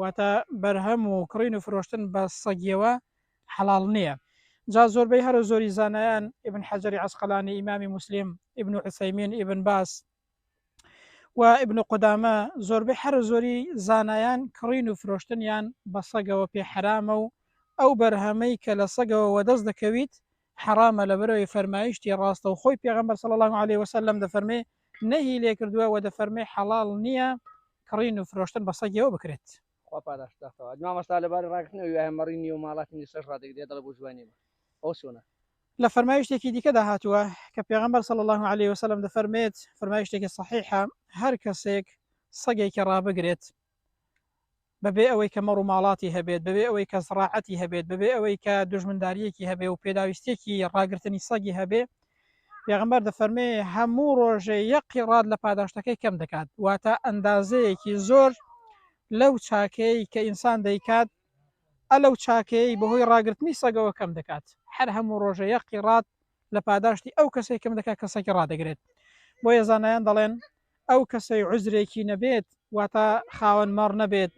واتە بەرهەم و کڕین و فرۆشتن بە سەگیەوە حەڵاڵ نیە جا زۆربەی هەرە زۆری زانایان ئیبن حەجەری عەسقەلانی ئیمامی موسلیم ئیبن عوسەیمین ئیبن باز و ئیبن قودامە زۆربەی هەرە زۆری زانایان کڕین و فرۆشتنیان بە سەگەوە پێ حەرامە و ئەو بەرهەمەی کە لە سەگەوە وەدەست دەکەویت حەڕامە لەبەرئەوەی فەرمایشتی ڕاستەوخۆی پێغەمبەر صلی اللە علیە وسلم دەفەرمێ نەهی لێکردووە وە دەفەرمێ حەڵاڵ نییە کڕین و فرۆشتن بە سەگیەوە بکرێت خوا پاداشت داتەوە مامۆستا لەبارەی ڕاگرتنەوەی وایە مەڕی نییە و ماڵاتی نیسەش ڕادەگرێت دەڵێ بۆ جوانی نییە ئەو چۆنە لە فەرمایشتێکی دیکەدا هاتووە کە پێغەمبەر صلی الله علیه وسلم دەفەرمێت فەرمایشتێکی صحیحە هەر کەسێک سەگێکی ڕابگرێت بەبێ ئەوەی کە مەڕ و ماڵاتی هەبێت، بەبێ ئەوەی کە زڕاعەتی هەبێت، بەبێ ئەوەی کە دوژمندارییەکی هەبێ و پێداویستییەکی ڕاگرتنی سەگی هەبێ، پێغەمبەر دەفەرمێ، هەموو ڕۆژێ یەک قیڕات لە پاداشتەکەی کەم دەکات، واتە ئەندازەیەکی زۆر لەو چاکەیەی کە ئینسان دەیکات، ئە لەو چاکەیەی بەهۆی ڕاگرتنی سەگەوە کەم دەکات، هەر هەموو ڕۆژێ یەک قیڕات لە پاداشتی ئەو کەسەی کەم دەکات کە سەگی ڕادەگرێت، بۆیە زانایان دەڵێن، ئەو کەسەی عوزرێکی نەبێت واتە خاوەن مەڕ نەبێت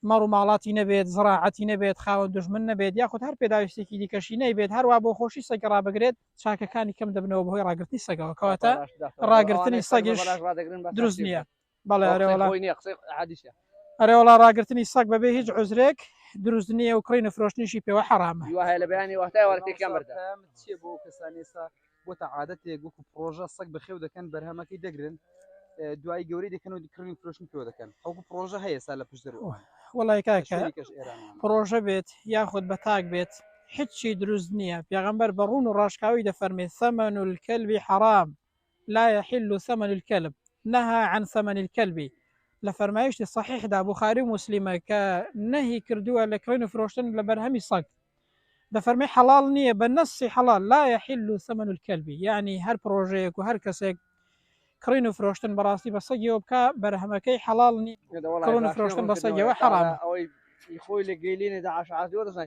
مەڕ و ماڵاتی نەبێت زڕاعەتی نەبێت خاوەن دژمن نەبێت یاخود هەر پێداویستێکی دیکەشی نەیبێت هەروە بۆ خۆشی سەگە ڕابگرێت چاکەکانی کەم دەبنەوە بەهۆی ڕاگررتنی سەگەوە کەواتە ڕاگررتنی سەگیش دروست نییە ئەرێوەڵا ڕاگررتنی سەگ بەبێ هیچ عزرێک دروست نییە و کڕین و فرۆشتنیشی پێوە حەرامە بۆتە عادەتێک وەکو پرۆژە سەگ بەخێو دەکەن بەرهەمەکەی دەگرن دوای گەوری دەکەن و کڕین فرۆشتن پێوە دەکەن ئەوکو پرۆژە هەیە سا لە پشت دەرەوە وڵی کاکە پرۆژە بێت یاخود بە تاک بێت هیچی دروست نییە پێغمبەر بە ڕوون و ڕاشکاوی دەفەرمێت سەمەن و کەلبی حرام لا يحل ثمن الكلب نهى عن ثمن الكلب لە فەرمایشتی صحیحدا بخاری و مسللیمە کە نەهی کردووە لە کڕین و فرۆشتن لە بەرهەمی سەگ دەفەرمێ حەڵاڵ نییە بە نەصی حەڵاڵ لا یحل ثمن الکلب یەعنی هەر پڕۆژەیەک و هەر کەسێک کڕین و فرۆشتن بەڕاستی بە سەگیەوە بکە بەرهەمەکەی حەڵاڵ نی کڕن و فرۆشتن بە سەگەوە حەڵامە. ئەوەی خۆی لە گەیلێنێدا عاشعاتی وەرزان